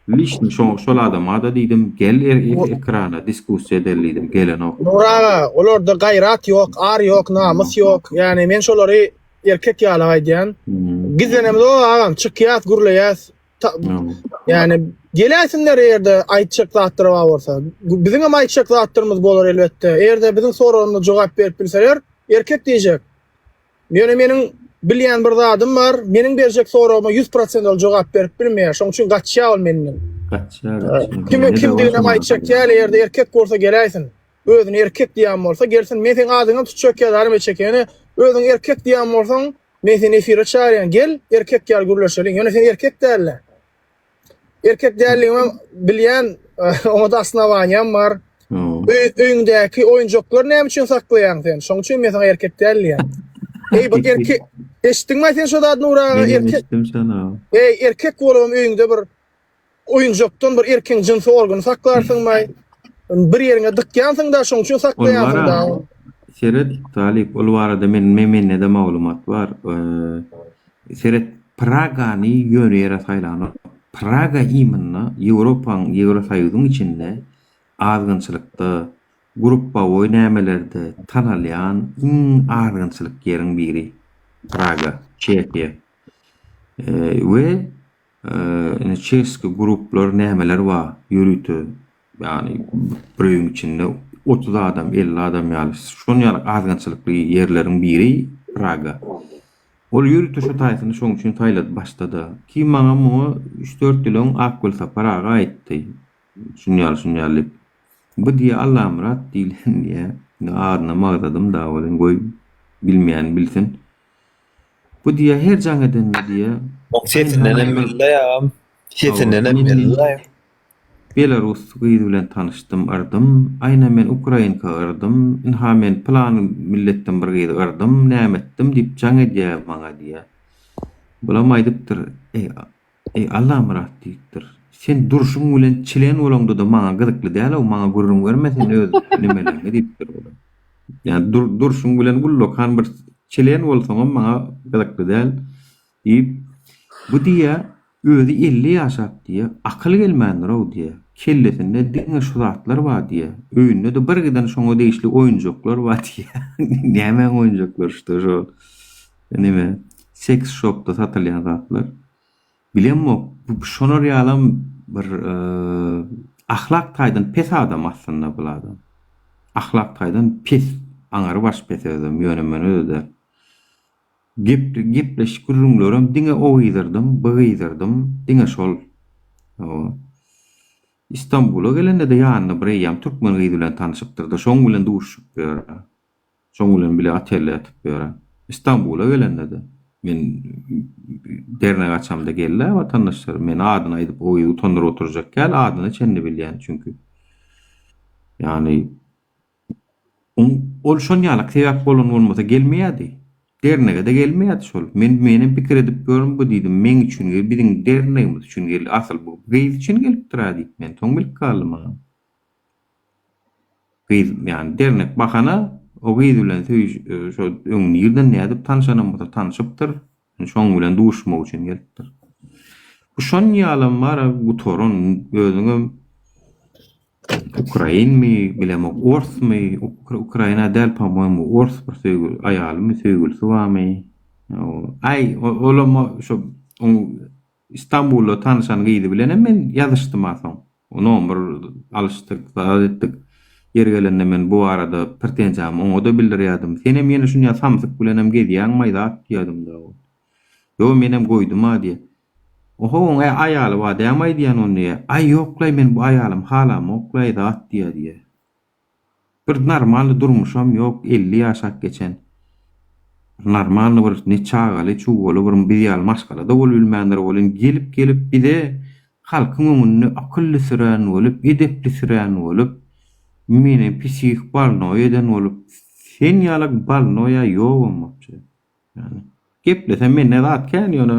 Lişni şo şol adamada diýdim gel e e ekrana diskussiýa edeli diýdim gelenok. Nur aga, olarda gaýrat ýok, ar ýok, namys ýok. Ýani men şolary erkek ýaly aýdýan. Hmm. Gizlenem ýok agam, çykýas, gürleýäs. Ta- Hmm. Ýani geläsinler ýerde aýtjak zatlar bar bolsa. Bu- Biziň hem aýtjak zatlarymyz bolar elbetde. Ýerde biziň soragyna jogap berip bilseler, erkek diýjek. Ýöne meniň bilýän bir zadym bar, meniň berjek soragyma ýüz prosent ol jogap berip bilmeýär, şoň üçin gaçýar ol menden. Gaçýar, gaçýar. Kimiň kimdiginem aýtjak ýaly, eger-de erkek bolsa geläýsin. Özüni erkek diýen bolsa gelsin, men seň adyňam tutjak ýalarym eçe ekeni. Özüňi erkek diýen bolsaň, men seni efire çagyrýan, gel, erkek ýaly gürleşeliň. Ýöne sen erkek däl-dä. Erkek däldigimi bilýän, oňa-da osnowaniýam bar. Öýüňdäki oýunjaklary näme üçin saklaýaň sen? Şoň üçin men saňa erkek däl diýýän. Eý, bir erkek, eşitdiňmi sen şu zady Nura? Erkek. Eý, erkek bolubam öýüňde bir oýunjakdan bir erkegiň jynsy organy saklarsyňmy? Bir ýeriňe dykýansyň-da, şoň üçin saklaýansyň-da. Seret, Talyp, ol barada men mende-de maglumat bar. Seret, Pragany ýöne ýere saýlanok. Praga imynda Ýewropanyň, Ýewrosoýuzyň içinde azgynçylykda, gruppawoý nämelerde tanalýan iň azgynçylyk ýeriň biri. Praga, Çehiýa. We indi çeski gruplar nämeler bar ýörite Ýagny bir öýüň içinde otuz adam, elli adam ýaly, şonuň ýaly azgynçylykly ýerleriň biri Praga. Ol ýörite şo taýsyny şoň üçin saýlady başda-da. Kim maňa muňa üç-dört ýyl öň Akgülsapar aga aýtdy. Şuny ýaly, şuny ýaly diýip. Bu diýýä Allamyrat diýlen diýýä. Indi adynam agzadym-da welin goý, bilmeýän bilsin. Bu diýýä her jaň edende diýýä. Oň sesindenem belli agam. Sesindenem belli. Belarus gyz bilen tanyşdym yrdym aýna men ukrainka yrdym ynha men pylan milletden bir gyzy yrdym näme etdim diýip jaň edýä maňa diýýä bulam aýdypdyr eý eý Allamyrat diýipdir sen durşuň bilen çilen bolaňdada maňa gyzykly dälow maňa gürrüň berme sen öz nimeleňi diýipdir bulam ýa durşuň bilen ullakan bir çilen bolsaňam maňa gyzykly däl Diýip, bu diýýä, özi elli ýaşap diýýä, akyly gelmändir-ow diýýä, kellesinde diňe şu zatlar bar diýýä, öýünde-de bir giden şoňa degişli oýunjaklar bar diýýä, nämäň oýunjaklary şda şo neme, seks şopda satylýan zatlar, bilemok, bu şolar ýalam bir ahlak taýdan pes adam aslynda bul adam, ahlak taýdan pes, aňary baş pes özem, ýöne men öze däl. Gepli gepleşik gürrüňlerem diňe o gyzyrdym, bu gyzyrdym, diňe şol. Hawa. Istambula gelende-de ýanyna bir eýýäm türkmen gyz bilen tanyşypdyr-da, şoň bilen duşuşyp bu ýerde. Şoň bilen bile otelde ýatyp bu ýere. Istambula gelende-de. Men Dernege açamda geldi-ä watandaşlar. Men adyny aýdyp o gyzy utandyryp oturjak däl, adyna çenli bilýän çünki. Ýagny Ol şol ýalak sebäp bolan bolmasa gelmeýärdi. Dernege-de gelmeýärdi şol. Men menem pikir edip ýörün bu diýdim. Meň üçin gelip, biziň dernegimiz üçin gelip, asyl bu gyz üçin gelipdir-ä diýip men soň bilip galdym agam. Gyz ýany dernek bahana, o gyz bilen söýüş, şo öň nirden nädip tanyşanam bolsa tanyşypdyr. Şoň bilen duşmak üçin gelipdir. Bu şon ýalam bara gutaran özüňem ukrainmi bilemok orsmy ukraina däl pomoýmu ors bir söýgi aýalymy söýgülisi barmy aý olam şo Istanbulda tanyşan gyzy bilenem men ýazyşdym-a soň. Nomer alyşdyk, zat etdik. Ýeri gelende men bu barada pretenziýamy oňa-da bildirýärdim. Senem ýene şunýa samsyk bilenem gezýäňmaý zat diýýärdim-dä ol. Ýo, menem goýdum-a diýýär. Oho, oň-ä aýaly bar dämaý diýýän onda-ýa. Aý, ýoklaý, men bu aýalymy halamok-laý zat diýýär-diýýär. Bir normalny durmuşam ýok elli ýaşap geçen normalny bir ne çagaly çugaly bir biz ýaly maşgalada bolup bilmändir welin gelip gelip bize halkyň öňünde akylly sürän bolup edepli sürän bolup meni psihik balnoý eden bolup sen ýaly balnoýa ýogam bolçy ýani geplesem mende zat kän ýöne